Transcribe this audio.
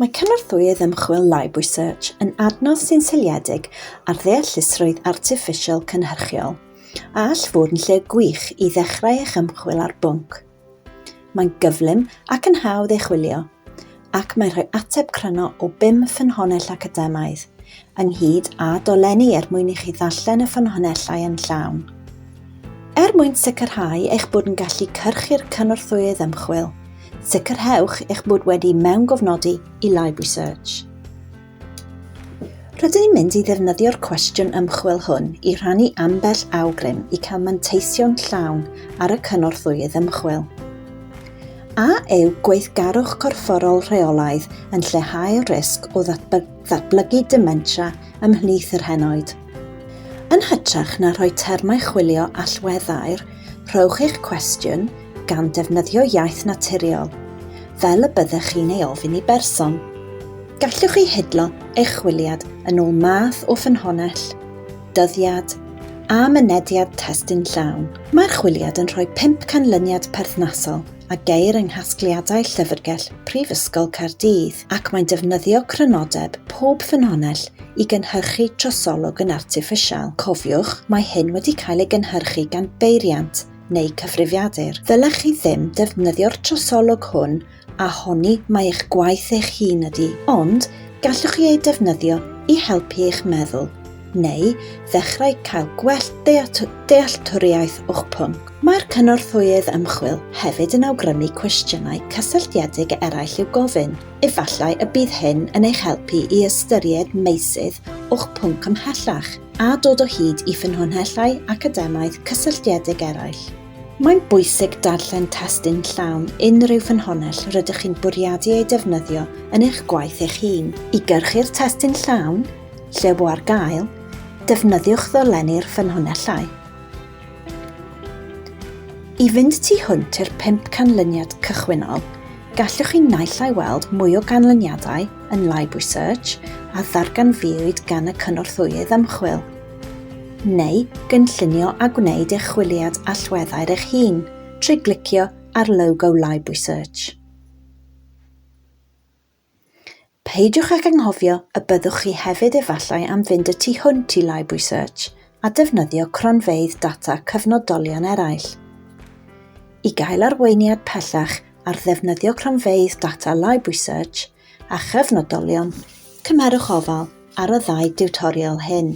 Mae cynorthwyydd ymchwil Library Search yn adnodd sy'n seiliedig ar ddeallusrwydd artiffisial cynhyrchiol a all fod yn lle gwych i ddechrau eich ymchwil ar bwnc. Mae'n gyflym ac yn hawdd ei chwilio, ac mae'n rhoi ateb cryno o bum ffynhonnell academaidd, ynghyd â dolenni er mwyn i chi ddarllen y ffynhonnellau yn llawn. Er mwyn sicrhau eich bod yn gallu cyrchu'r cynorthwyydd ymchwil, sicrhewch eich bod wedi mewngofnodi i Library Search. Rydyn ni'n mynd i ddefnyddio'r cwestiwn ymchwil hwn i rhannu ambell awgrym i cael manteisio'n llawn ar y cynorthwyydd ymchwil. A yw gweithgarwch corfforol rheolaidd yn lleihau'r risg o ddatblygu ddatblygu dementia ymhlith yr henoed. Yn hytrach na rhoi termau chwilio allweddair, rhowch eich cwestiwn gan ddefnyddio iaith naturiol, fel y byddech chi'n ei ofyn i berson. Gallwch chi hidlo eich chwiliad yn ôl math o ffynhonnell, dyddiad, a mynediad testun llawn. Mae'r chwiliad yn rhoi pump canlyniad perthnasol, a geir yng nghasgliadau Llyfrgell Prifysgol Caerdydd ac mae'n defnyddio crynodeb pob ffynhonnell i gynhyrchu trosolwg yn artiffisial. Cofiwch, mae hyn wedi cael ei gynhyrchu gan beiriant neu cyfrifiadur. Ddylech chi ddim defnyddio'r trosolwg hwn a honni mai eich gwaith eich hun ydy, ond gallwch chi ei defnyddio i helpu eich meddwl. neu ddechrau cael gwell dealltwriaeth o'ch pwnc. Mae'r cynorthwyydd ymchwil hefyd yn awgrymu cwestiynau cysylltiedig eraill i'w gofyn, efallai y bydd hyn yn eich helpu i ystyried meysydd o'ch pwnc ymhellach, a dod o hyd i ffynhonnellau academaidd cysylltiedig eraill. Mae'n bwysig darllen testun llawn unrhyw ffynhonnell rydych chi'n bwriadu ei defnyddio yn eich gwaith eich hun. I gyrchu'r testun llawn, Lle bo ar gael, defnyddiwch ddolenni'r ffynhonnellau. I fynd tu hwnt i'r pump canlyniad cychwynnol, gallwch chi naill ai weld mwy o ganlyniadau yn Live Research a ddarganfuwyd gan y cynorthwyydd ymchwil, neu gynllunio a gwneud eich chwiliad allweddau'r eich hun trwy glicio ar logo Live Research. Peidiwch ag anghofio y byddwch chi hefyd efallai am fynd y tu hwnt i Library Search a defnyddio cronfeydd data cyfnodolion eraill. I gael arweiniad pellach ar ddefnyddio cronfeydd data Library Search a chyfnodolion, cymerwch ofal ar y ddau diwtorial hyn.